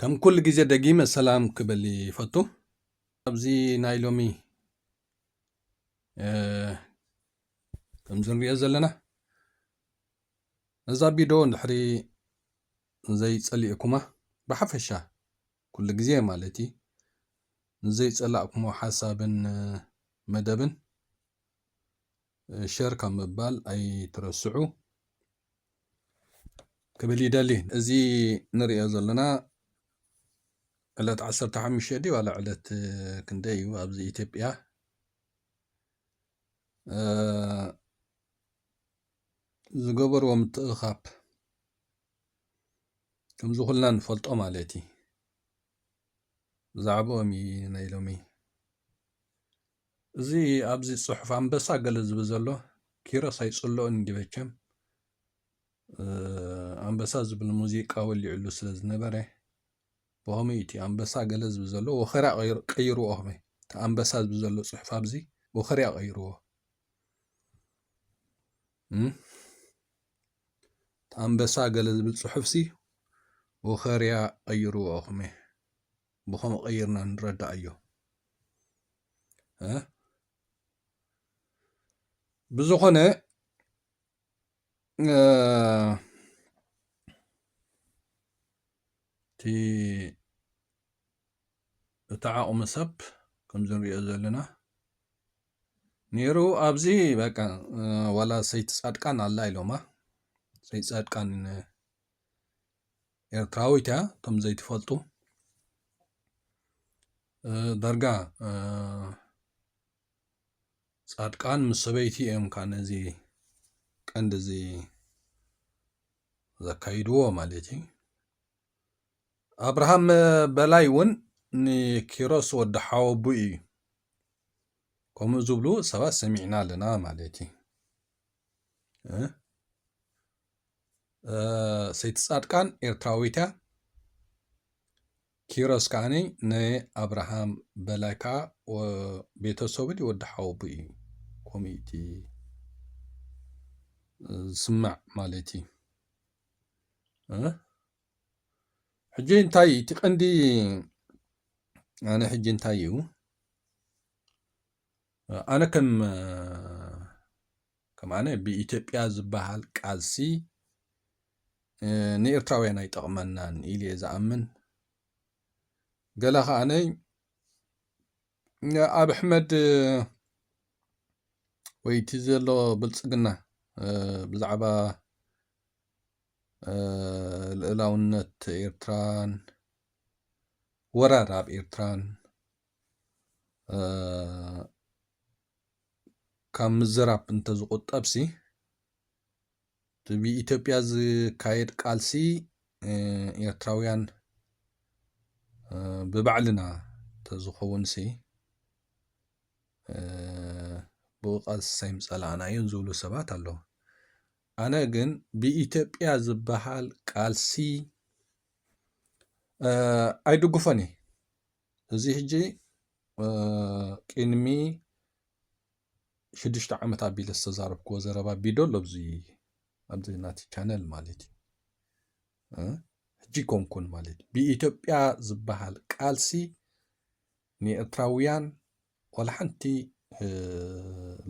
ከም ኩሉ ግዜ ደጊመ ሰላም ክብል ይፈቱ ኣብዚ ናይ ሎሚ ከምዚ ንሪኦ ዘለና ነዛ ቢዶ እንድሕሪ ንዘይ ጸሊእኩማ ብሓፈሻ ኩሉ ግዜ ማለት እዩ ንዘይ ጸላእኩሞ ሓሳብን መደብን ሸር ካብ ምባል ኣይትረስዑ ክብል ይደሊ እዚ ንሪኦ ዘለና ዕለት 15 ድዩ ዋላ ዕለት ክንደይ እዩ ኣብዚ ኢትዮጵያ ዝገበርዎ ምትእኽኻብ ከምዚ ኩልና ንፈልጦ ማለት እዩ ብዛዕባኦም እዩ ናይ ሎሚ እዚ ኣብዚ ፅሑፍ ኣንበሳ ገለ ዝብል ዘሎ ኪሮስ ኣይፅልኦን እንዲ መቸም ኣንበሳ ዝብል ሙዚቃ ወሊዕሉ ስለ ዝነበረ ኦኸመይ እዩ እቲ ኣንበሳ ገለ ዝብል ዘሎ ወኸርያ ቀይርዎ ኦኸመይ እቲ ኣንበሳ ዝብል ዘሎ ፅሑፍ ኣብዚ ወኸርያ ቀይርዎ እቲ ኣንበሳ ገለ ዝብል ፅሑፍሲ ወኸርያ ቀይርዎ ኦኸመይ ብኸምኡ ቀይርና ንረዳእዮ ብዝኾነ እቲ እቲ ዓቕሚ ሰብ ከምዚ ንሪኦ ዘለና ነይሩ ኣብዚ በቃ ዋላ ሰይቲ ፃድቃን ኣላ ኢሎማ ሰይቲ ፃድቃን ኤርትራዊት እያ እቶም ዘይትፈልጡ ዳርጋ ጻድቃን ምስ ሰበይቲ እዮም ካ ነዚ ቀንዲ እዚ ዘካይድዎ ማለት እዩ ኣብርሃም በላይ እውን ንኪሮስ ወዲ ሓወቡ እዩ ከምኡ ዝብሉ ሰባት ሰሚዕና ኣለና ማለት እዩ ሰይቲ ጻድቃን ኤርትራዊት እያ ኪሮስ ከኣኒ ን ኣብርሃም በላይ ከኣ ቤተሰቡ ድዩ ወዲ ሓወቡኡ እዩ ከምኡ እዩ እቲ ዝስማዕ ማለት እዩ ሕጂ እንታይ እዩ እቲ ቀንዲ ኣነ ሕጂ እንታይ እዩ ኣነ ከም ከማን ብኢትዮጵያ ዝበሃል ቃልሲ ንኤርትራውያን ኣይጠቕመናን ኢልየ ዝኣምን ገለ ከዓነይ ኣብ ኣሕመድ ወይ እቲ ዘሎ ብልፅግና ብዛዕባ ልእላውነት ኤርትራን ወራር ኣብ ኤርትራን ካብ ምዝራብ እንተዝቑጠብሲ እቲ ብኢትዮጵያ ዝካየድ ቃልሲ ኤርትራውያን ብባዕልና ተዝኸውንሲ ብኡ ቃልሲ ሳይምፀላእናዮ ዝብሉ ሰባት ኣለዉ። ኣነ ግን ብኢትዮጵያ ዝበሃል ቃልሲ ኣይድግፎን እየ። እዚ ሕጂ ቅድሚ ሽዱሽተ ዓመት ኣቢለ ዝተዛረብክዎ ዘረባ ቢዶ ኣሎ ኣብዚ ኣብዚ ናቲ ቻነል ማለት እዩ ሕጂ ኮንኩን ማለት እዩ ብኢትዮጵያ ዝበሃል ቃልሲ ንኤርትራውያን ዋላ ሓንቲ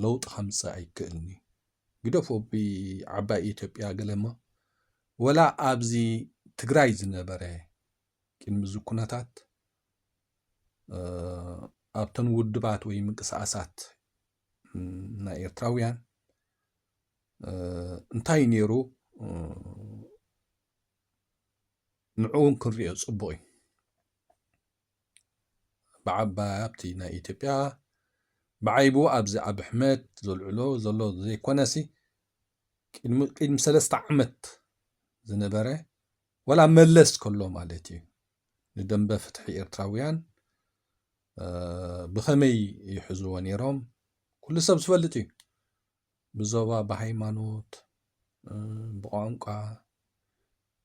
ለውጢ ከምፅእ ኣይክእልን እዩ ግደፎ ብዓባይ ኢትዮጵያ ገለሞ ወላ ኣብዚ ትግራይ ዝነበረ ቅድሚ እዚ ኩነታት ኣብተን ውድባት ወይ ምንቅስቓሳት ናይ ኤርትራውያን እንታይ ነይሩ ንዕኡን ክንሪኦ ፅቡቕ እዩ ብዓባይ ኣብቲ ናይ ኢትዮጵያ ብዓይቡ ኣብዚ ኣብ ኣሕመድ ዘልዕሎ ዘሎ ዘይኮነሲ ቅድሚ ሰለስተ ዓመት ዝነበረ ወላ መለስ ከሎ ማለት እዩ ንደምበ ፍትሒ ኤርትራውያን ብኸመይ ይሕዝዎ ነይሮም ኩሉ ሰብ ዝፈልጥ እዩ ብዞባ ብሃይማኖት ብቋንቋ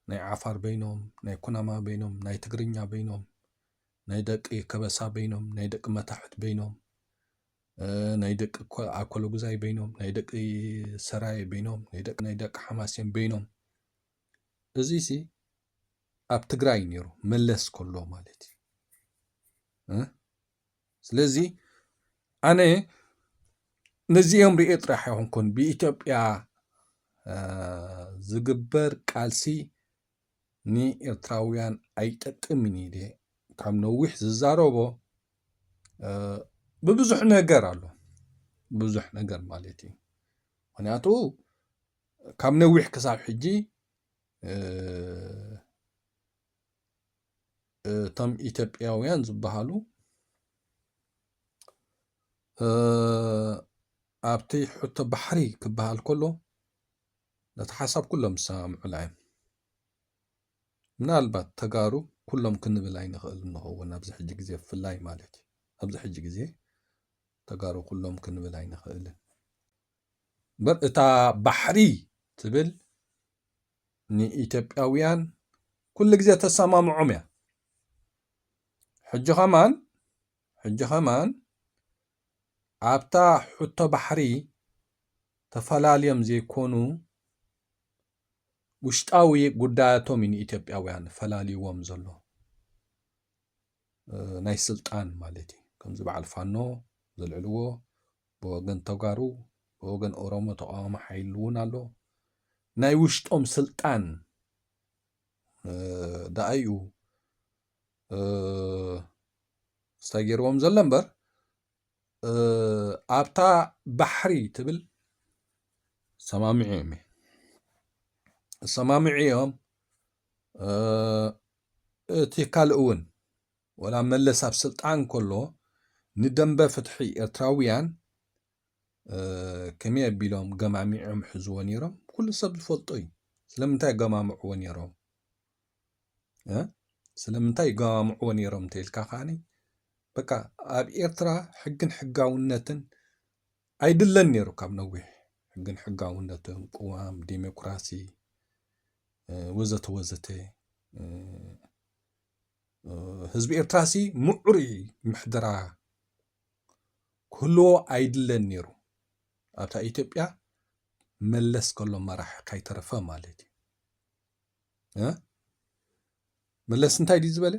ናይ ዓፋር በይኖም ናይ ኩናማ በይኖም ናይ ትግርኛ በይኖም ናይ ደቂ ከበሳ በይኖም ናይ ደቂ መታሕት በይኖም ናይ ደቂ ኣኮሎጉዛይ በይኖም ናይ ደቂ ሰራየ በይኖም ናይ ደቂ ሓማሴን በይኖም እዚሲ ኣብ ትግራይ እዩ ነይሩ መለስ ከሎ ማለት እዩ እ? ስለዚ ኣነ ነዚኦም ርኤ ጥራሕ ኣይኮንኩን ብኢትዮጵያ እ፣ ዝግበር ቃልሲ ንኤርትራውያን ኣይጠቅምን እዩ ኢለ ካብ ነዊሕ ዝዛረቦ እ፣ ብብዙሕ ነገር ኣሎ ብዙሕ ነገር ማለት እዩ ምክንያቱ ካብ ነዊሕ ክሳብ ሕጂ እቶም ኢትዮጵያውያን ዝበሃሉ ኣብቲ ሕቶ ባሕሪ ክበሃል ከሎ ነቲ ሓሳብ ኩሎም ዝሰማምዑላ እዮም ምናልባት ተጋሩ ኩሎም ክንብል ኣይንኽእል ንኸውን ኣብዚ ሕጂ ግዜ ብፍላይ ማለት እዩ ኣብዚ ሕጂ ግዜ ተጋሩ ኩሎም ክንብል ኣይንኽእልን እምበር እታ ባሕሪ ትብል ንኢትዮጵያውያን ኩሉ ግዜ ተሰማምዖም እያ ሕጂ ከማን ሕጂ ከማን ኣብታ ሕቶ ባሕሪ ተፈላልዮም ዘይኮኑ ውሽጣዊ ጉዳያቶም እዩ ንኢትዮጵያውያን ፈላልይዎም ዘሎ ናይ ስልጣን ማለት እዩ ከምዚ በዓል ፋኖ ዘልዕልዎ ብወገን ተጋሩ ብወገን ኦሮሞ ተቃዋሚ ሓይሊ እውን ኣሎ ናይ ውሽጦም ስልጣን ደኣ እዩ ስታይ ገይርዎም ዘሎ እምበር ኣብታ ባሕሪ ትብል ሰማምዒ እዮም እሰማምዒ እዮም እቲ ካልእውን ወላ መለስ ኣብ ስልጣን ከሎ ንደምበ ፍትሒ ኤርትራውያን ከመይ ኣቢሎም ገማሚዖም ሕዝዎ ነይሮም ኩሉ ሰብ ዝፈልጦ እዩ። ስለምንታይ ገማምዕዎ ነይሮም ስለምንታይ ገማምዕዎ ነይሮም እንተልካ ከዓኒ በቃ ኣብ ኤርትራ ሕግን ሕጋውነትን ኣይድለን ነይሩ ካብ ነዊሕ ሕግን ሕጋውነትን ቅዋም ዴሞክራሲ ወዘተ ወዘተ ህዝቢ ኤርትራ ሲ ምዑሩይ ምሕደራ ክህልዎ ኣይድለን ነይሩ ኣብታ ኢትዮጵያ መለስ ከሎ መራሒ ካይተረፈ ማለት እዩ መለስ እንታይ ድዩ ዝበለ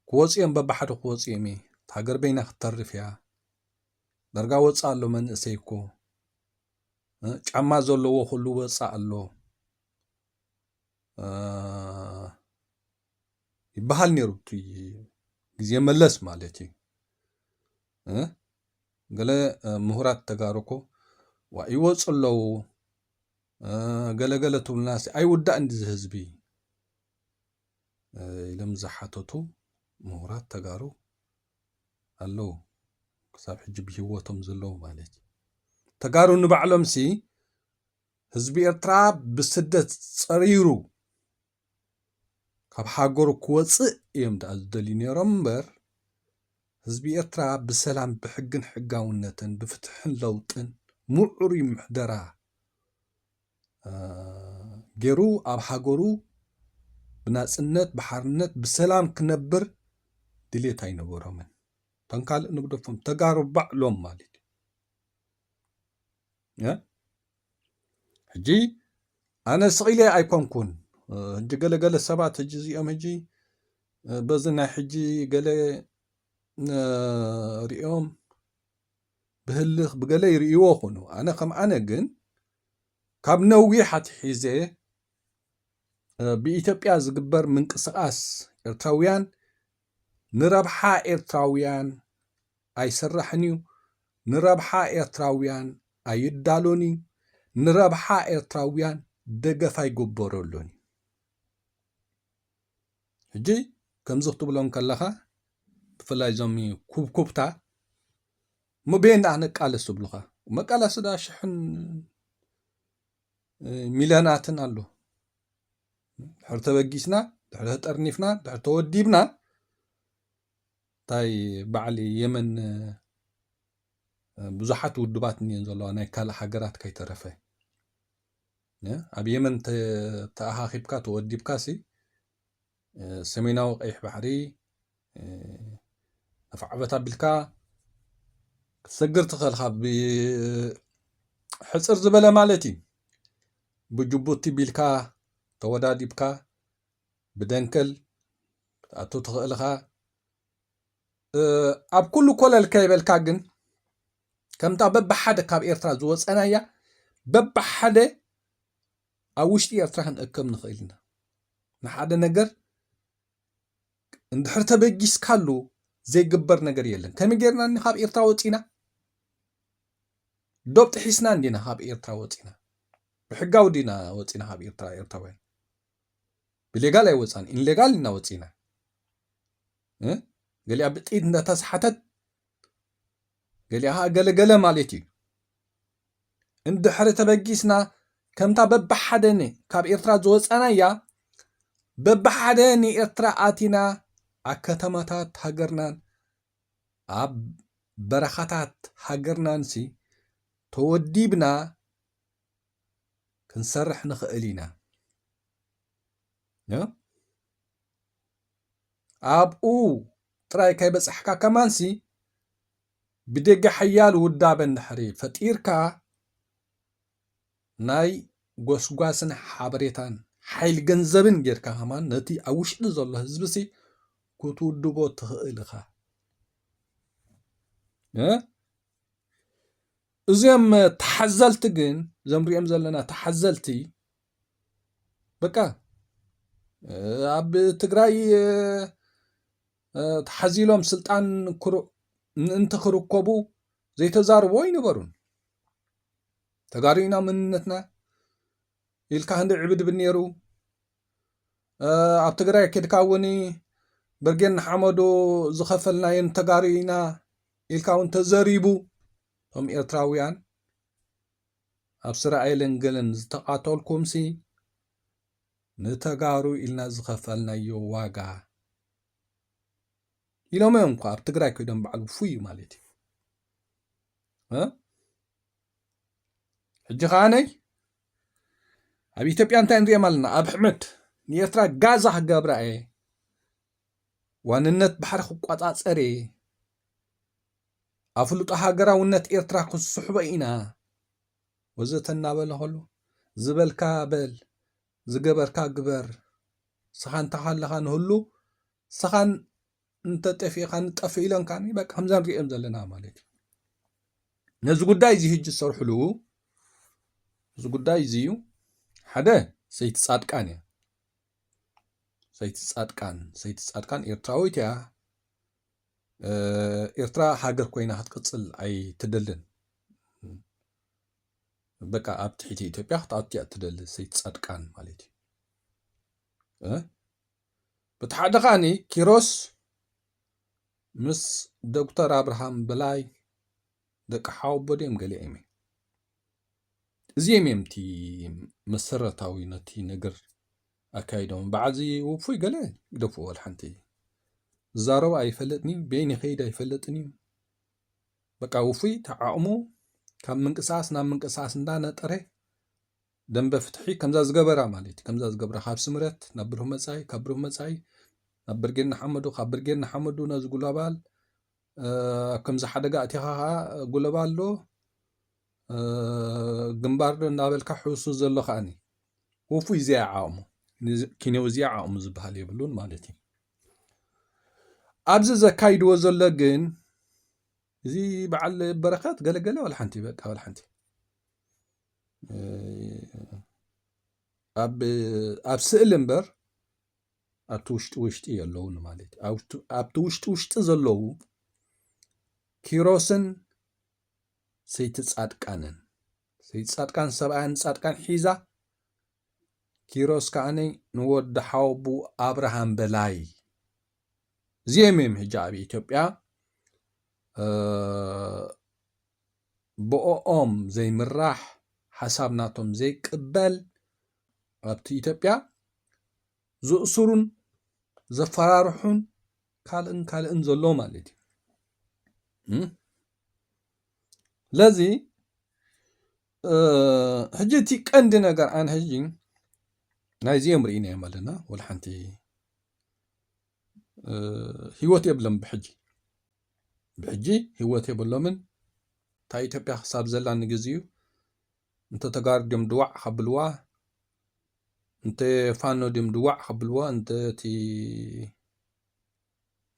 ክወጹ እዮም በብሓደ ክወጹ እዮም እየ ሃገር በይና ክትተርፍ እያ ደርጋ ወጻእ ኣሎ መንእሰይ እኮ ጫማ ዘለዎ ኩሉ ወጻእ ኣሎ ይበሃል ነይሩ እቲ ግዜ መለስ ማለት እዩ ገለ ምሁራት ተጋሩ እኮ ዋ ይወፁ ኣለዉ ገለገለ ትብሉናሲ ኣይውዳእን እዚ ህዝቢ ኢሎም ዝሓተቱ ምሁራት ተጋሩ ኣለዉ ክሳብ ሕጂ ብሂወቶም ዘለዉ ማለት እዩ ተጋሩ ንባዕሎም ሲ ህዝቢ ኤርትራ ብስደት ጸሪሩ ካብ ሃገሩ ክወጽእ እዮም ደኣ ዝደልዩ ነይሮም እምበር ህዝቢ ኤርትራ ብሰላም ብሕግን ሕጋውነትን ብፍትሕን ለውጥን ምዑሩይ ምሕደራ ጌሩ ኣብ ሃገሩ ብናጽነት ብሓርነት ብሰላም ክነብር ድሌት ኣይነበሮምን እቶም ካልእ ንግደፎም ተጋሩ ባዕሎም ማለት እዩ ሕጂ ኣነ ስቂለ ኣይኮንኩን ሕጂ ገለገለ ሰባት ሕጂ እዚኦም ሕጂ በዚ ናይ ሕጂ ገለ ሪኦም ብህልኽ ብገለ ይርእይዎ ይኾኑ ኣነ ከም ኣነ ግን ካብ ነዊሕ ኣትሒዘ ብኢትዮጵያ ዝግበር ምንቅስቓስ ኤርትራውያን ንረብሓ ኤርትራውያን ኣይስራሕን እዩ ንረብሓ ኤርትራውያን ኣይዳሎን እዩ ንረብሓ ኤርትራውያን ደገፍ ኣይግበረሉን እዩ ሕጂ ከምዚ ክትብሎም ከለኻ ብፍላይ እዞም ኩብኩብታ እሞ በየን ደኣ ነቃልስ ዝብሉኻ መቃላሲ ደኣ ሽሕን ሚልዮናትን ኣሎ ድሕሪ ተበጊስና ድሕሪ ተጠርኒፍና ድሕሪ ተወዲብና እንታይ በዓል የመን ብዙሓት ውድባት እኒአን ዘለዋ ናይ ካልእ ሃገራት ከይተረፈ ኣብ የመን ተኣኻኺብካ ተወዲብካሲ ሰሜናዊ ቀይሕ ባሕሪ ኣፍዓበት ኣቢልካ ክትሰግር ትኽእል ካብ ሕፅር ዝበለ ማለት እዩ ብጅቡቲ ቢልካ ተወዳዲብካ ብደንከል ክትኣቱ ትኽእል ኢኻ ኣብ ኩሉ ኮለል ከይበልካ ግን ከምታ በብሓደ ካብ ኤርትራ ዝወፀናያ በብሓደ ኣብ ውሽጢ ኤርትራ ክንእከብ ንኽእል ኢና ንሓደ ነገር እንድሕር ተበጊስካሉ ዘይግበር ነገር የለን ከመይ ጌርና እኒ ካብ ኤርትራ ወፂና ዶብ ጥሒስና እንዲና ካብ ኤርትራ ወፂና ብሕጋዊ ዲና ወፂና ካብ ኤርትራ ኤርትራውያን ብሌጋል ኣይወፃን ኢንሌጋል ኢና ወፂና ገሊኣ ብጥይት እንዳተሰሓተት ገሊኣ ኸዓ ገለ ገለ ማለት እዩ እንድሕሪ ተበጊስና ከምታ በብሓደ ካብ ኤርትራ ዝወፃናያ በብሓደ ንኤርትራ ኣቲና ኣብ ከተማታት ሃገርናን ኣብ በረኻታት ሃገርናንሲ ተወዲብና ክንሰርሕ ንኽእል ኢና። ኣብኡ ጥራይ ከይበጻሕካ ከማንሲ ብደገ ሓያል ውዳበ እንድሕሪ ፈጢርካ ናይ ጎስጓስን ሓበሬታን ሓይል ገንዘብን ጌርካ ከማን ነቲ ኣብ ውሽጢ ዘሎ ህዝቢሲ ክትውድቦ ትኽእል ኢኻ እዚኦም ተሓዘልቲ ግን ዘምሪኦም ዘለና ተሓዘልቲ በቃ ኣብ ትግራይ ተሓዚሎም ስልጣን ምእንቲ ክርከቡ ዘይተዛርቦ ኣይነበሩን ተጋሪና መንነትና ኢልካ ክንዲ ዕብድብን ነይሩ ኣብ ትግራይ ኬድካ እውን ብርጌን ንሓመዶ ዝኸፈልናየን ተጋሪና ኢልካ እውን ተዘሪቡ እቶም ኤርትራውያን ኣብ ስራኤልን ገለን ዝተቃተልኩምሲ ንተጋሩ ኢልና ዝኸፈልናዮ ዋጋ ኢሎም እዮም እኳ ኣብ ትግራይ ኮይዶም በዓል ውፉይ እዩ ማለት እዩ ሕጂ ከዓ ነይ ኣብ ኢትዮጵያ እንታይ ንሪኦም ኣለና ኣብ ሕመድ ንኤርትራ ጋዛ ክገብራ እየ ዋንነት ባሕሪ ክቆፃፀር እየ ኣፍልጦ ሃገራውነት ኤርትራ ክስሕቦ ኢና ወዘተ እናበለ ከሉ ዝበልካ በል ዝገበርካ ግበር ስኻ እንተ ሃለኻ ንህሉ ስኻን እንተ ጠፊእኻ ንጠፍእ ኢሎንካኒ በቃ ከምዛ ንሪኦም ዘለና ማለት እዩ ነዚ ጉዳይ እዚ ህጂ ዝሰርሕሉ እዚ ጉዳይ እዚ እዩ ሓደ ሰይቲ ጻድቃን እያ ሰይቲ ጻድቃን ሰይቲ ጻድቃን ኤርትራዊት እያ ኤርትራ ሃገር ኮይና ክትቅጽል ኣይትደልን በቃ ኣብ ትሕቲ ኢትዮጵያ ክትኣቱ እያ እትደሊ ሰይቲ ጻድቃን ማለት እዩ በቲ ሓደ ከዓኒ ኪሮስ ምስ ዶክተር ኣብርሃም በላይ ደቂ ሓወቦ ድዮም ገሊኦም እዮም እዚም እዮም እቲ መሰረታዊ ነቲ ነገር ኣካይዶም በዓል እዚ ውፉይ ገለ ግደፍዎ ወላ ሓንቲ ዝዛረቦ ኣይፈልጥን እዩ በይን ይኸይድ ኣይፈልጥን እዩ በቃ ውፉይ ተዓቕሙ ካብ ምንቅስቃስ ናብ ምንቅስቃስ እንዳነጠረ ደንበ ፍትሒ ከምዛ ዝገበራ ማለት እዩ ከምዛ ዝገብራ ካብ ስምረት ናብ ብሩህ መፃኢ ካብ ብሩህ መፃኢ ናብ ብርጌድ ንሓመዱ ካብ ብርጌድ ንሓመዱ ነዚ ጉላባል ኣብ ከምዚ ሓደጋ ኣእቲኻ ከኣ ጉለባል ዶ ግንባር ዶ እናበልካ ሕውሱ ዘሎ ከኣኒ ውፉይ እዚኣ ዓቕሙ ኪኔው እዚኣ ዓቕሙ ዝበሃል የብሉን ማለት እዩ ኣብዚ ዘካይድዎ ዘሎ ግን እዚ በዓል በረከት ገለገለ ዋላ ሓንቲ በቃ ዋላ ሓንቲ ኣብ ስእሊ እምበር ኣብቲ ውሽጢ ውሽጢ የለውን ማለት እዩ ኣብቲ- ኣብቲ ውሽጢ ውሽጢ ዘለዉ ኪሮስን ሰይቲ ጻድቃንን ሰይቲ ጻድቃን ሰብኣያን ጻድቃን ሒዛ ኪሮስ ከዓኒ ንወዲ ሓወቡ ኣብርሃም በላይ እዚኦም እዮም ሕጂ ኣብ ኢትዮጵያ እ፣ ብኦኦም ዘይምራሕ ሓሳብ ናቶም ዘይቅበል ኣብቲ ኢትዮጵያ ዝእስሩን ዘፈራርሑን ካልእን ካልእን ዘሎ ማለት እዩ ለዚ ሕጂ እቲ ቀንዲ ነገር ኣነ ሕጂ ናይዚኦም ርኢናዮም ኣለና ወላ ሓንቲ ህይወት የብሎም ብሕጂ ብሕጂ ህይወት የብሎምን እታ ኢትዮጵያ ክሳብ ዘላ ንግዜ እዩ እንተ ተጋሩ ድዮም ድዋዕ ከብልዋ እንተ ፋኖ ድዮም ድዋዕ ከብልዋ እንተ እቲ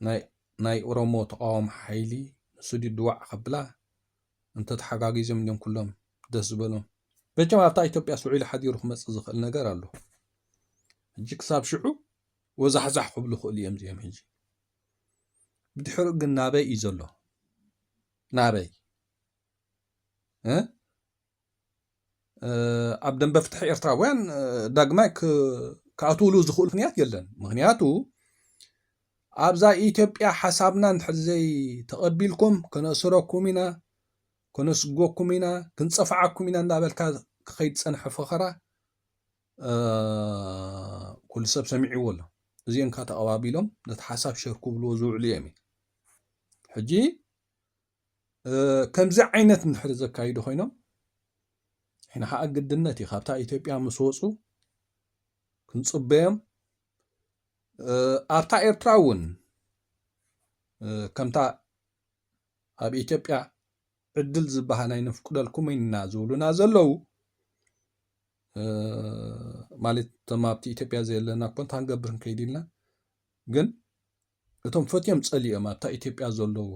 ናይ ናይ ኦሮሞ ተቃዋሚ ሓይሊ ንሱ ድዩ ድዋዕ ከብላ እንተ ተሓጋጊዞም ድዮም ኩሎም ደስ ዝበሎም መቸም ኣብታ ኢትዮጵያ ስውዒሉ ሓዲሩ ክመጽእ ዝኽእል ነገር ኣሎ ሕጂ ክሳብ ሽዑ ወዛሕዛሕ ክብሉ ይኽእሉ እዮም እዚኦም ሕጂ ብድሕሪኡ ግን ናበይ እዩ ዘሎ ናበይ ኣብ ደንበ ፍትሒ ኤርትራውያን ዳግማይ ክኣትውሉ ዝኽእሉ ምክንያት የለን ምክንያቱ ኣብዛ ኢትዮጵያ ሓሳብና ንድሕር ዘይ ተቐቢልኩም ክነእስረኩም ኢና ክነስጎኩም ኢና ክንፀፍዓኩም ኢና እናበልካ ክኸይድ ፀንሐ ፈኸራ ኩሉ ሰብ ሰሚዕዎ ኣሎ እዚኦም ካ ተቐባቢሎም ነቲ ሓሳብ ሸር ክብልዎ ዝውዕሉ እዮም ሕጂ ከምዚ ዓይነት እንድሕሪ ዘካይዱ ኮይኖም ሕና ከዓ ግድነት እዩ ካብታ ኢትዮጵያ ምስ ወፁ ክንፅበዮም ኣብታ ኤርትራ እውን ከምታ ኣብ ኢትዮጵያ ዕድል ዝበሃል ኣይነፍቅደልኩም ኢና ዝብሉና ዘለዉ ማለት እቶም ኣብቲ ኢትዮጵያ ዘየለና ኮንታ ክንገብር ንከይድ ኢልና ግን እቶም ፈትዮም ጸሊኦም ኣብታ ኢትዮጵያ ዘለዉ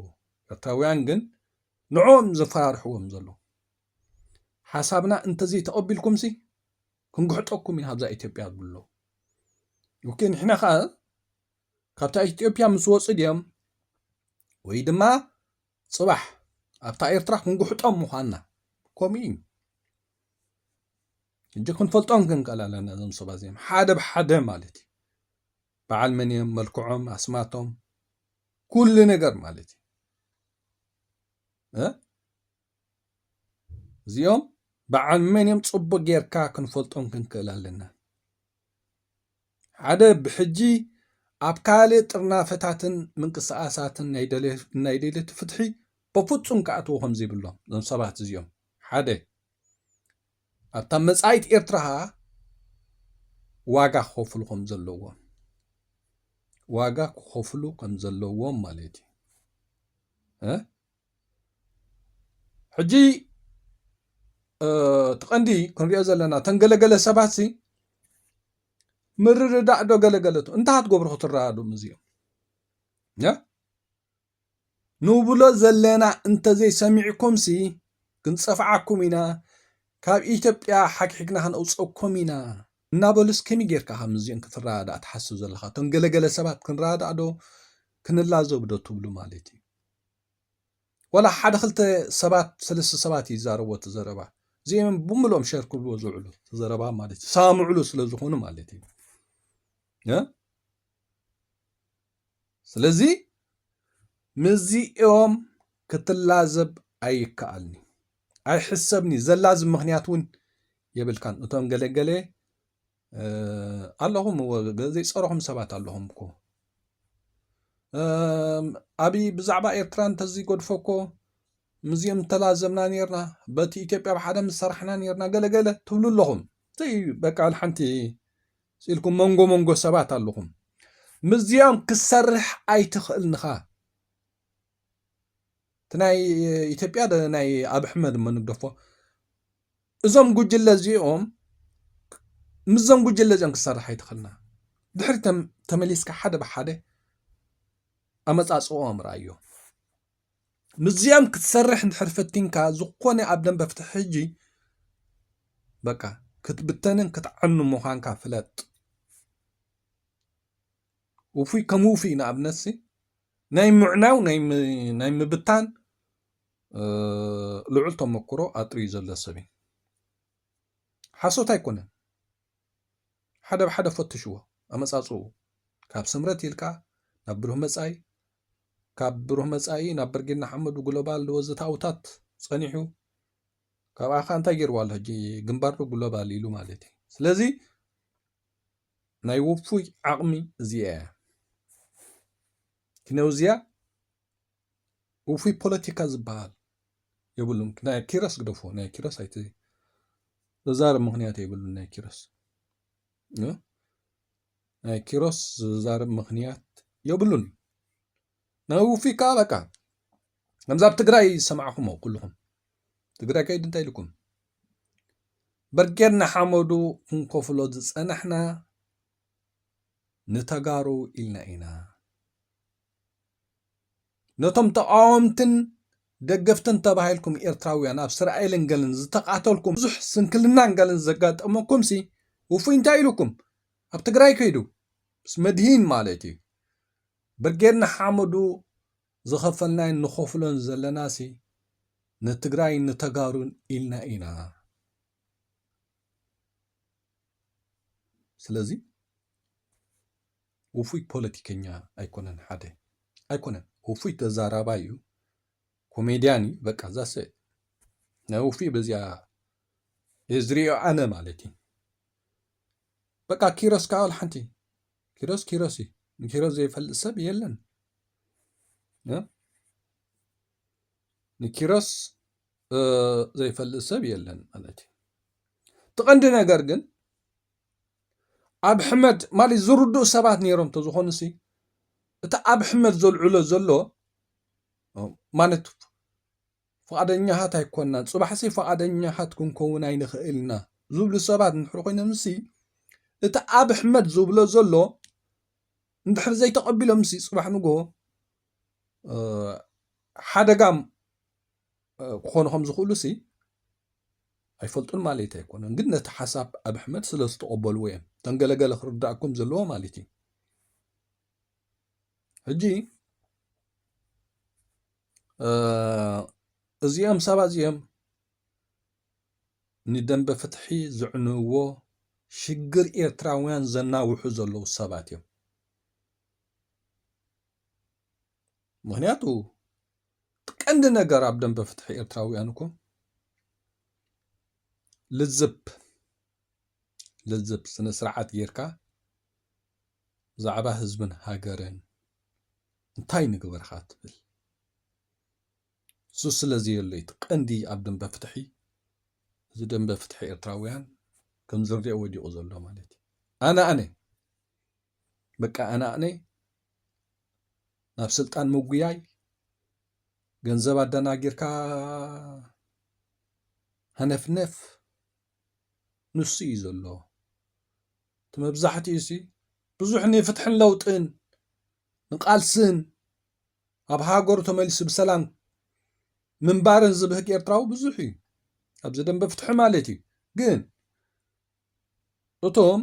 ኤርትራውያን ግን ንዕኦም ዘፈራርሕዎም ዘለዉ ሓሳብና እንተዘይተቐቢልኩምሲ ክንግሕጠኩም ኢና ኣብዛ ኢትዮጵያ ዝብሉ ኣለዉ ኦኬ ንሕና ከኣ ካብታ ኢትዮጵያ ምስ ወጹ ድዮም ወይ ድማ ጽባሕ ኣብታ ኤርትራ ክንግሕጦም ምዃንና ከምኡ እዩ እጅ ክንፈልጦም ክንከል ኣለና እዞም ሰባ እዚኦም ሓደ ብሓደ ማለት እዩ በዓል መን እዮም መልክዖም ኣስማቶም ኩሉ ነገር ማለት እዩ እዚኦም በዓል መን እዮም ፅቡቅ ጌርካ ክንፈልጦም ክንክእል ኣለና ሓደ ብሕጂ ኣብ ካልእ ጥርናፈታትን ምንቅስቃሳትን ናይ ደልዮቲ ፍትሒ በፍፁም ክኣትዎ ከምዘይብሎም እዞም ሰባት እዚኦም ሓደ ኣብታ መጻኢት ኤርትራ ከኣ ዋጋ ክኸፍሉ ከም ዘለዎም ዋጋ ክኸፍሉ ከም ዘለዎም ማለት እዩ ሕጂ እቲ ቀንዲ ክንሪኦ ዘለና እተን ገለገለ ሰባት ሲ ምርድዳእ ዶ ገለገለቱ እንታይ ክትገብሩ ክትረዳድኡም እዚኦም ንብሎ ዘለና እንተዘይሰሚዕኩምሲ ክንጸፍዓኩም ኢና ካብ ኢትዮጵያ ሓግሒግና ክንእውጸኩም ኢና እናበሉስ ከመይ ጌርካ ካብ ምስዚኦም ክትረዳዳእ ትሓስብ ዘለኻ እቶም ገለገለ ሰባት ክንረዳዳእ ዶ ክንላዘብ ዶ ትብሉ ማለት እዩ ወላ ሓደ ክልተ ሰባት ሰለስተ ሰባት እዩ ይዛረቦ እቲ ዘረባ እዚኦም ብምሎም ሸር ክብልዎ ዝውዕሉ ዘረባ ማለት እዩ ሳምዕሉ ስለ ዝኾኑ ማለት እዩ ስለዚ ምስዚኦም ክትላዘብ ኣይከኣልኒ ኣይሕሰብኒ ዘላዚ ምክንያት እውን የብልካን እቶም ገለገለ ኣለኹም እዎ ዘይፀረኹም ሰባት ኣለኹም እኮ ኣብይ ብዛዕባ ኤርትራ እንተዘይገድፎ እኮ ምዚኦም ተላዘብና ነርና በቲ ኢትዮጵያ ብሓደ ምሰራሕና ነርና ገለገለ ትብሉ ኣለኹም ዘይ በቃ ሓንቲ ስኢልኩም መንጎ መንጎ ሰባት ኣለኹም ምስዚኦም ክሰርሕ ኣይትኽእልንኻ እቲ ናይ ኢትዮጵያ ናይ ኣብ ኣሕመድ እሞ ንግደፎ እዞም ጉጅለ እዚኦም ምስዞም ጉጅለ እዚኦም ክሰርሕ ኣይትኽእልና ድሕሪ ተመሊስካ ሓደ ብሓደ ኣመፃፅኦም ርኣዮ ምስዚኦም ክትሰርሕ እንድሕር ፈቲንካ ዝኾነ ኣብ ደንበ ፍትሒ ሕጂ በቃ ክትብተንን ክትዓኑ ምዃንካ ፍለጥ ውፉይ ከም ውፉይ ንኣብነትሲ ናይ ምዕናው ናይ ምብታን ልዑል ተመክሮ ኣጥርዩ ዘሎ ሰብ እዩ ሓሶት ኣይኮነን ሓደ ብሓደ ፈትሽዎ ኣመፃፅኡ ካብ ስምረት ኢልካ ናብ ብሩህ መፃኢ ካብ ብሩህ መጻኢ ናብ ብርጌድ ንሓመዱ ግሎባል ድወዘተኣውታት ጸኒሑ ካብኣ ከ እንታይ ገይርዋ ኣሎ ሕጂ ግንባር ዶ ግሎባል ኢሉ ማለት እዩ ስለዚ ናይ ውፉይ ዓቕሚ እዚኣ እያ ክነውዚያ ውፉይ ፖለቲካ ዝበሃል የብሉን ናይ ኪሮስ ግደፎ ናይ ኪሮስ ኣይት ተዛረብ ምክንያት የብሉን ናይ ኪሮስ ናይ ኪሮስ ዝዛረብ ምኽንያት የብሉን ናይ ውፊ ከኣ በቃ ከምዛ ኣብ ትግራይ ዝሰማዕኹሞ ኩልኹም ትግራይ ከይዲ እንታይ ኢልኩም በርጌድ ንሓመዱ ክንከፍሎ ዝፀናሕና ንተጋሩ ኢልና ኢና ነቶም ተቓወምትን ደገፍትን ተባሂልኩም ኤርትራውያን ኣብ እስራኤልን ገልን ዝተቓተልኩም ብዙሕ ስንክልናን ገልን ዘጋጠመኩምሲ ውፉይ እንታይ ኢሉኩም ኣብ ትግራይ ከይዱ ምስ መድሂን ማለት እዩ ብርጌድ ንሓመዱ ዝኸፈልናይን ንኸፍሎን ዘለናሲ ንትግራይ ንተጋሩን ኢልና ኢና ስለዚ ውፉይ ፖለቲከኛ ኣይኮነን ሓደ ኣይኮነን ውፉይ ተዛራባይ እዩ ኮሜድያን እዩ በቃ ዛሰ ናይ ውፉይ በዚኣ እየ ዝሪኦ ኣነ ማለት እዩ በቃ ኪሮስ ከዓ ሓንቲ ኪሮስ ኪሮስ እዩ ንኪሮስ ዘይፈልጥ ሰብ የለን ንኪሮስ ዘይፈልጥ ሰብ የለን ማለት እዩ እቲ ቀንዲ ነገር ግን ኣብሕመድ ማለት ዝርድኡ ሰባት ነይሮም ተዝኾኑሲ እቲ ኣብሕመድ ዘልዕሎ ዘሎ ማለት ፍቓደኛታት ኣይኮናን ፅባሕሲ ፍቓደኛታት ክንከውን ኣይንኽእል ኢና ዝብሉ ሰባት እንድሕር ኮይኖምሲ እቲ ኣብሕመድ ዝብሎ ዘሎ እንድሕር ዘይተቐቢሎምሲ ፅባሕ ንጎ ሓደጋም ክኾኑ ከም ዝኽእሉሲ ኣይፈልጡን ማለት ኣይኮነን ግን ነቲ ሓሳብ ኣብ ኣሕመድ ስለ ዝተቐበልዎ እዮም እተን ገለገለ ክርዳእኩም ዘለዎ ማለት እዩ ሕጂ እዚኦም ሰባት እዚኦም ንደንበ ፍትሒ ዝዕንዎ ሽግር ኤርትራውያን ዘናውሑ ዘለዉ ሰባት እዮም ምክንያቱ ቀንዲ ነገር ኣብ ደንበ ፍትሒ ኤርትራውያን እኮ ልዝብ ልዝብ ስነ ስርዓት ጌርካ ብዛዕባ ህዝብን ሃገርን እንታይ ንግበርካ ትብል እሱ ስለ ዘየሎ እቲ ቀንዲ ኣብ ደንበ ፍትሒ እዚ ደንበ ፍትሒ ኤርትራውያን ከም ዝርኦ ወዲቑ ዘሎ ማለት እዩ ኣነ ኣነ በቃ ኣነ ኣነ ናብ ስልጣን ምጉያይ ገንዘብ ኣደናጊርካ ሃነፍነፍ ንሱ እዩ ዘሎ እቲ መብዛሕትኡ ሲ ብዙሕ ንፍትሕን ለውጥን ንቃልስን ኣብ ሃገሩ ተመሊሱ ብሰላም ምንባርን ዝብህግ ኤርትራዊ ብዙሕ እዩ ኣብዚ ደንበ ፍትሒ ማለት እዩ ግን እቶም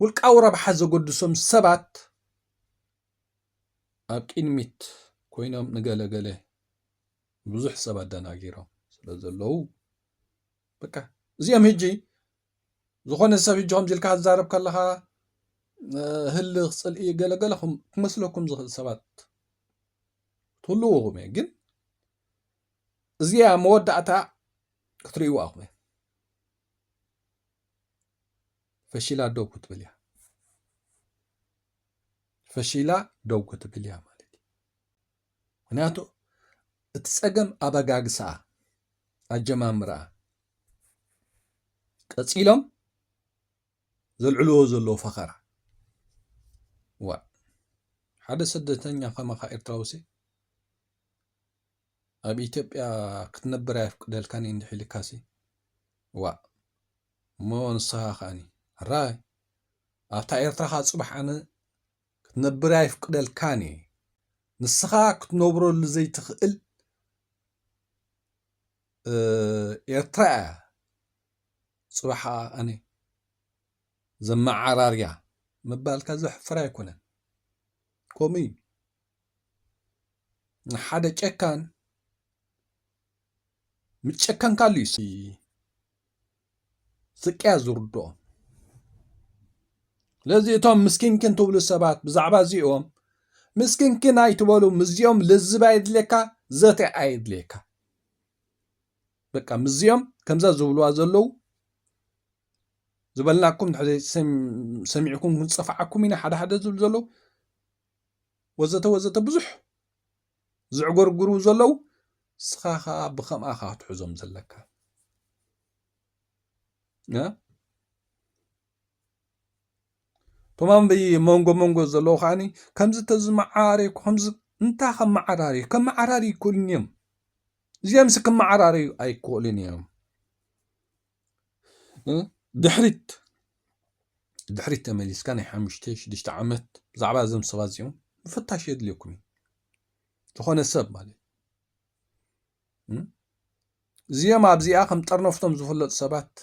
ውልቃዊ ረብሓ ዘገድሶም ሰባት ኣብ ቅድሚት ኮይኖም ንገለ ገለ ብዙሕ ሰብ ኣደናጊሮም ስለ ዘለዉ በቃ እዚኦም ህጂ ዝኾነ ሰብ ህጂ ከምዚ ኢልካ ዝዛረብ ከለኻ ህልኽ ፅልኢ ገለገለ ክመስለኩም ዝኽእል ሰባት ትህልውኹም እየ ግን እዚኣ መወዳእታ ክትርእይዋ ኣኹም ፈሺላ ደው ክትብል እያ ፈሺላ ደው ክትብል እያ ማለት እዩ ምክንያቱ እቲ ፀገም ኣበጋግስኣ ኣጀማምርኣ ቀፂሎም ዘልዕልዎ ዘለዎ ፈኸራ ዋ ሓደ ስደተኛ ከማኻ ኤርትራውሲ ኣብ ኢትዮጵያ ክትነብር ኣየፍቅደልካን እዩ እንድሕ ኢልካሲ ዋእ እሞ ንስኻ ከኣኒ ሕራይ ኣብታ ኤርትራኻ ጽባሕ ኣነ ክትነብር ኣይፍቅደልካን እየ ንስኻ ክትነብረሉ ዘይትኽእል ኤርትራ እያ ጽባሕ ኣነ ዘመዓራርያ ምባልካ ዘሕፍር ኣይኮነን ከምኡ እዩ ንሓደ ጨካን ምስ ጨከንካሉ እዩ ስቅያ ዝርድኦ ስለዚ እቶም ምስኪንኪን ትብሉ ሰባት ብዛዕባ እዚኦም ምስኪንኪን ኣይትበሉ ምስዚኦም ልዝብ ኣየድልየካ ዘተ ኣየድልየካ በቃ ምስዚኦም ከምዛ ዝብልዋ ዘለው ዝበልናኩም ሰሚዕኩም ክንፀፍዓኩም ኢና ሓደ ሓደ ዝብል ዘለው ወዘተ ወዘተ ብዙሕ ዝዕጎርጉሩ ዘለው ንስኻ ከዓ ብከምኣ ካ ክትሕዞም ዘለካ ቶማም መንጎ መንጎ ዘለዎ ከዓኒ ከምዚ ተዝመዓራሪ ከምዚ እንታይ ከመዓራሪ ከመዓራሪ ይክእሉን እዮም እዚኦምስ ክመዓራረዩ ኣይክእሉን እዮም ድሕሪት ድሕሪት ተመሊስካ ናይ ሓሙሽተ ሽዱሽተ ዓመት ብዛዕባ እዞም ሰባት እዚኦም ምፍታሽ የድልየኩም እዩ ዝኾነ ሰብ ማለት እዚኦም ኣብዚኣ ከም ጠርነፍቶም ዝፍለጡ ሰባት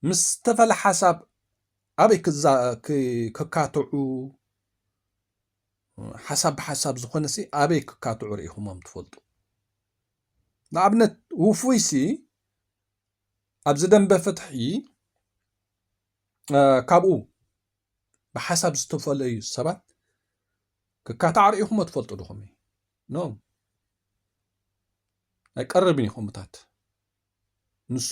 ምስ ዝተፈለ ሓሳብ ኣበይ ክካትዑ ሓሳብ ብሓሳብ ዝኾነሲ ኣበይ ክካትዑ ርኢኹሞም ትፈልጡ ንኣብነት ውፉይሲ ኣብዚ ደንበ ፍትሒ ካብኡ ብሓሳብ ዝተፈለዩ ሰባት ክካታዕ ርኢኹሞ ትፈልጡ ድኹም ኖ ኣይቀርብን እዩ ከምታት ንሱ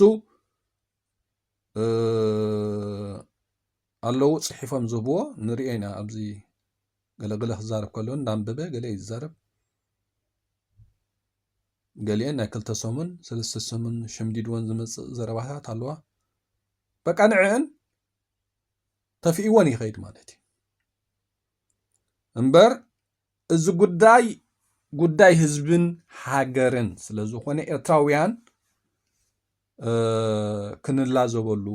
ኣለዉ ጽሒፎም ዝህብዎ ንሪኦ ኢና ኣብዚ ገለገለ ክዛረብ ከሎ እንዳንበበ ገለ እዩ ዝዛረብ ገሊአን ናይ ክልተ ሰሙን ሰለስተ ሰሙን ሸምዲድወን ዝመፅእ ዘረባታት ኣለዋ በቃ ንዕአን ተፍኢወን ይኸይድ ማለት እዩ እምበር እዚ ጉዳይ ጉዳይ ህዝብን ሃገርን ስለ ዝኾነ ኤርትራውያን ክንላዘበሉ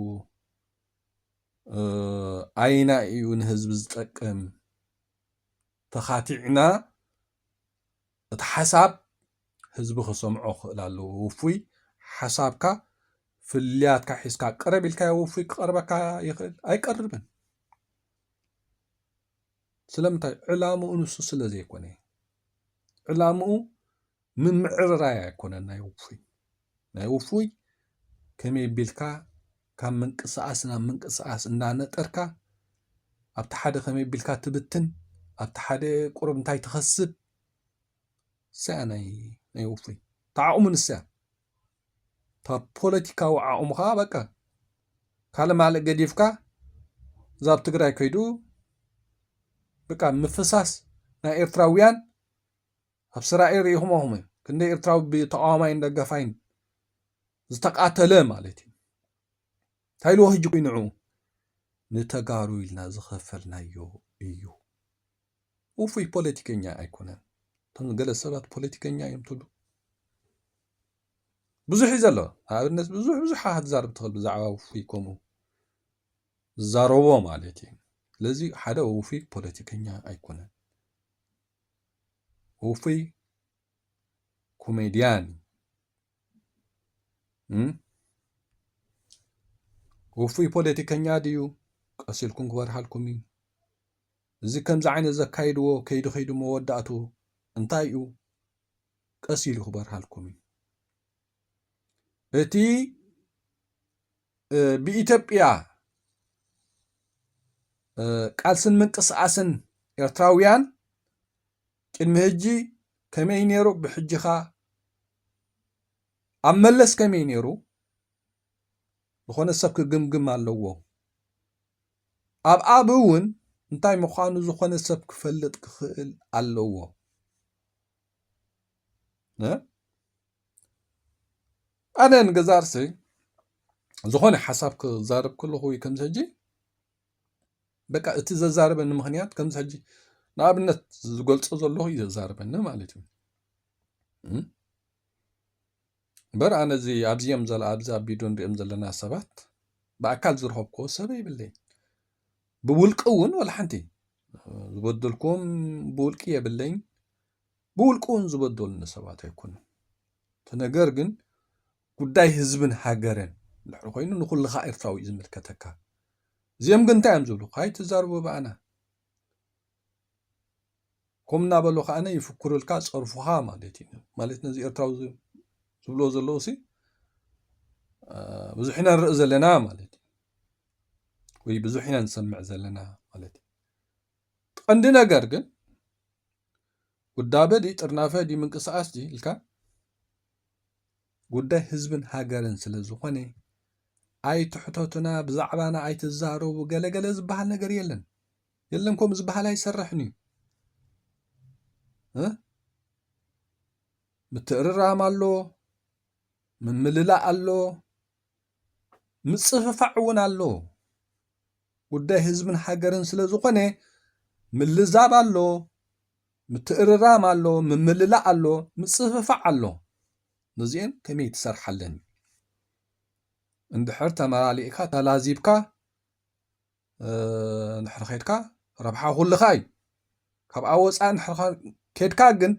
ኣይና እዩ ንህዝቢ ዝጠቅም ተኻቲዕና እቲ ሓሳብ ህዝቢ ክሰምዖ ክኽእል ኣለዎ ውፉይ ሓሳብካ ፍልያትካ ሒዝካ ቅረብ ኢልካዮ ውፉይ ክቐርበካ ይኽእል ኣይቀርብን ስለምንታይ ዕላምኡ ንሱ ስለ ዘይኮነ እዩ ዕላምኡ ምምዕርራይ ኣይኮነን ናይ ውፉይ ናይ ውፉይ ከመይ ቢልካ ካብ ምንቅስቃስ ናብ ምንቅስቃስ እንዳነጠርካ ኣብቲ ሓደ ከመይ ቢልካ ትብትን ኣብቲ ሓደ ቁሩብ እንታይ ትኸስብ ንሰያ ናይ ውፉይ ታዓቕሙ ንሰያ ፖለቲካዊ ዓቕሙ ከዓ በቃ ካልእ ማልእ ገዲፍካ እዛ ኣብ ትግራይ ከይዱ በቃ ምፍሳስ ናይ ኤርትራውያን ኣብ ስራኤ ርኢኹሞ ኹም ክንደይ ኤርትራዊ ብተቃዋማይን ደጋፋይን ዝተቃተለ ማለት እዩ እንታይ ኢልዎ ህጂ ንዑ ንተጋሩ ኢልና ዝኸፈልናዮ እዩ ውፉይ ፖለቲከኛ ኣይኮነን እቶም ገለ ሰባት ፖለቲከኛ እዮም ትብሉ ብዙሕ እዩ ዘሎ ንኣብነት ብዙሕ ብዙሕ ክትዛርብ ትኽእል ብዛዕባ ውፉይ ከምኡ ዝዛረቦ ማለት እዩ ስለዚ ሓደ ውፉይ ፖለቲከኛ ኣይኮነን ውፉይ ኮሜድያን ውፉይ ፖለቲከኛ ድዩ ቀሲልኩም ክበርሃልኩም እዩ እዚ ከምዚ ዓይነት ዘካይድዎ ከይዲ ከይዲ መወዳእትኡ እንታይ እዩ ቀስ ኢሉ ክበርሃልኩም እዩ። እቲ ብኢትዮጵያ ቃልስን ምንቅስቃስን ኤርትራውያን ቅድሚ ሕጂ ከመይ ነይሩ ብሕጂኻ ኣብ መለስ ከመይ ነይሩ ዝኾነ ሰብ ክግምግም ኣለዎ። ኣብ ኣብ እውን እንታይ ምዃኑ ዝኾነ ሰብ ክፈልጥ ክኽእል ኣለዎ። ኣነ ንገዛ ርእሰይ ዝኾነ ሓሳብ ክዛረብ ከለኹ ወይ ከምዚ ሕጂ በቃ እቲ ዘዛረበኒ ምክንያት ከምዚ ሕጂ ንኣብነት ዝገልፆ ዘለኹ እዩ ዘዛረበኒ ማለት እዩ እምበር ኣነ እዚ ኣብዚ እዮም ዘላ ኣብዚ ኣብ ቪድዮ ንሪኦም ዘለና ሰባት ብኣካል ዝረኸብክዎ ሰብ የብለይን ብውልቂ እውን ወላ ሓንቲ ዝበደልክዎም ብውልቂ የብለይን ብውልቂ እውን ዝበደሉኒ ሰባት ኣይኮኑን እቲ ነገር ግን ጉዳይ ህዝብን ሃገርን ድሕሪ ኮይኑ ንኩልኻ ኤርትራዊ እዩ ዝምልከተካ እዚኦም ግን እንታይ እዮም ዝብሉ ካይትዛርቡ ብኣና ከምኡ እናበሉ ከዓነ ይፍክሩልካ ፀርፉኻ ማለት እዩ ማለት ነዚ ኤርትራዊ ዝብሎ ዘለዉ ሲ ብዙሕ ኢና ንርኢ ዘለና ማለት እዩ ወይ ብዙሕ ኢና ንሰምዕ ዘለና ማለት እዩ ቀንዲ ነገር ግን ውዳበ ዲ ጥርናፈ ዲ ምንቅስቃስ ዲ ኢልካ ጉዳይ ህዝብን ሃገርን ስለ ዝኾነ ኣይትሕተቱና ብዛዕባና ኣይትዛረቡ ገለገለ ዝበሃል ነገር የለን የለን ከምኡ ዝበሃል ኣይሰርሕን እዩ ምትእርራም ኣሎ ምምልላእ ኣሎ ምፅፍፋዕ እውን ኣሎ ጉዳይ ህዝብን ሃገርን ስለ ዝኾነ ምልዛብ ኣሎ ምትእርራም ኣሎ፣ ምምልላእ ኣሎ፣ ምጽፍፋዕ ኣሎ። ነዚኤን ከመይ ትሰርሓለን እዩ። እንድሕር ተመላሊእካ ተላዚብካ እንድሕር ኼድካ ረብሓ ኩልኻ እዩ። ካብኣ ወፃኢ እንድሕር ኬድካ ግን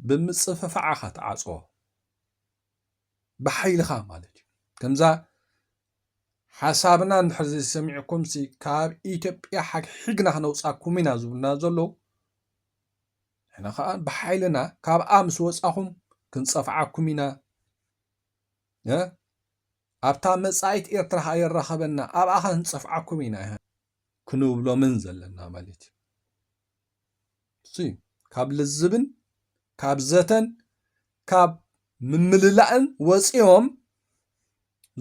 ብምጽፍፋዕ ኢኻ ትዓፅዎ ብሓይልኻ ማለት እዩ። ከምዛ ሓሳብና እንድሕር ዘይሰሚዕኩምሲ ካብ ኢትዮጵያ ሓግሒግና ክነውፃኩም ኢና ዝብሉና ዘለዉ ንሕና ከዓ ብሓይልና ካብኣ ምስ ወፃኹም ክንፀፍዓኩም ኢና ኣብታ መጻኢት ኤርትራ ኸኣ የራኸበና ኣብኣ ኸ ክንፀፍዓኩም ኢና ይሃ ክንብሎምን ዘለና ማለት እዩ ካብ ልዝብን ካብ ዘተን ካብ ምምልላእን ወፂኦም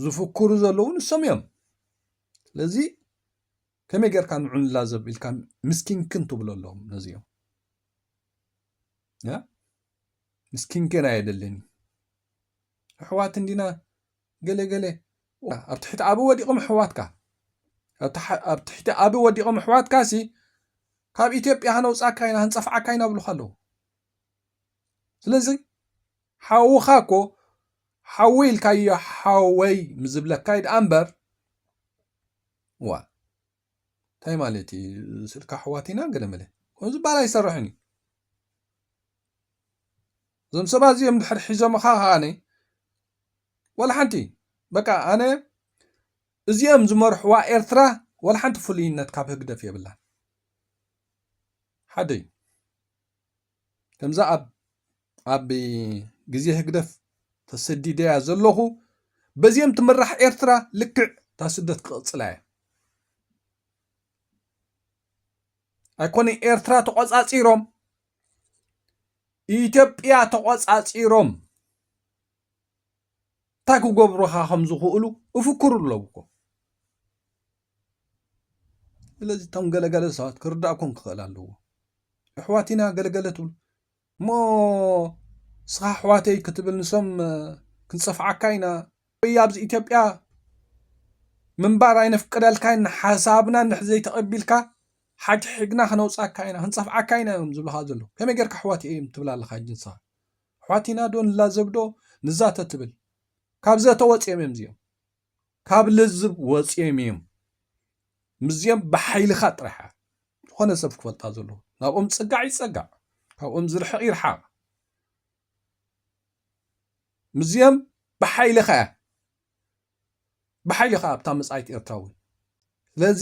ዝፍክሩ ዘለዉ ንሶም እዮም ስለዚ ከመይ ጌርካ ንዑ ንላዘብ ኢልካ ምስኪንክን ትብሎ ኣለዎም ነዚኦም ምስኪንክን ኣየደልን ኣሕዋት እንዲና ገለገለ ኣብ ትሕቲ ኣበ ወዲቖም ኣሕዋትካ ኣብ ትሕቲ ኣበ ወዲቖም ኣሕዋትካ ሲ ካብ ኢትዮጵያ ሃነውፃካ ኢና ህንፀፍዓካ ኢና ብሉካ ኣለዉ ስለዚ ሓውኻ እኮ ሓወይ ኢልካዮ ሓወይ ምዝብለካይ ደኣ እምበር ዋ እንታይ ማለት እዩ ስልካ ኣሕዋት ኢና ገለመለ ከምኡ ዝበሃል ኣይሰርሕን እዩ እዞም ሰባት እዚኦም ድሕር ሒዞምኻ ከዓነ ወላ ሓንቲ በቃ ኣነ እዚኦም ዝመርሕዋ ኤርትራ ወላ ሓንቲ ፍሉይነት ካብ ህግደፍ የብላን ሓደ እዩ ከምዛ ኣብ ኣብ ግዜ ህግደፍ ተሰዲደያ ዘለኹ በዚኦም ትምራሕ ኤርትራ ልክዕ እታ ስደት ክቕፅላ እየ ኣይኮነ ኤርትራ ተቆፃፂሮም ኢትዮጵያ ተቆፃፂሮም እንታይ ክገብሩኻ ከም ዝኽእሉ እፍክሩ ኣለዉ እኮ ስለዚ እቶም ገለገለ ሰባት ክርዳእኩም ክኽእል ኣለዎ ኣሕዋት ኢና ገለገለ ትብሉ እሞ ንስኻ ኣሕዋተይ ክትብል ንሶም ክንፀፍዓካ ኢና ወይ ኣብዚ ኢትዮጵያ ምንባር ኣይነፍቅደልካን ሓሳብና እንድሕር ዘይተቐቢልካ ሓግሒግና ክነውፃካ ኢና ክንፀፍዓካ ኢና እዮም ዝብልኻ ዘለዉ ከመይ ጌርካ ኣሕዋት እዮም ትብል ኣለኻ ሕጂ ንስኻ ኣሕዋት ኢና ዶ ንላዘብ ዶ ንዛተ ትብል ካብ ዘተ ወፂኦም እዮም እዚኦም ካብ ልዝብ ወፂኦም እዮም ምስዚኦም ብሓይልኻ ጥራሕ ዝኾነ ሰብ ክፈልጣ ዘለዎ ናብኦም ፅጋዕ ይፀጋዕ ካብኦም ዝርሕቕ ይርሓቕ ምስዚኦም ብሓይልኻ ብሓይልኻ ኣብታ መፃኢት ኤርትራ እውን ስለዚ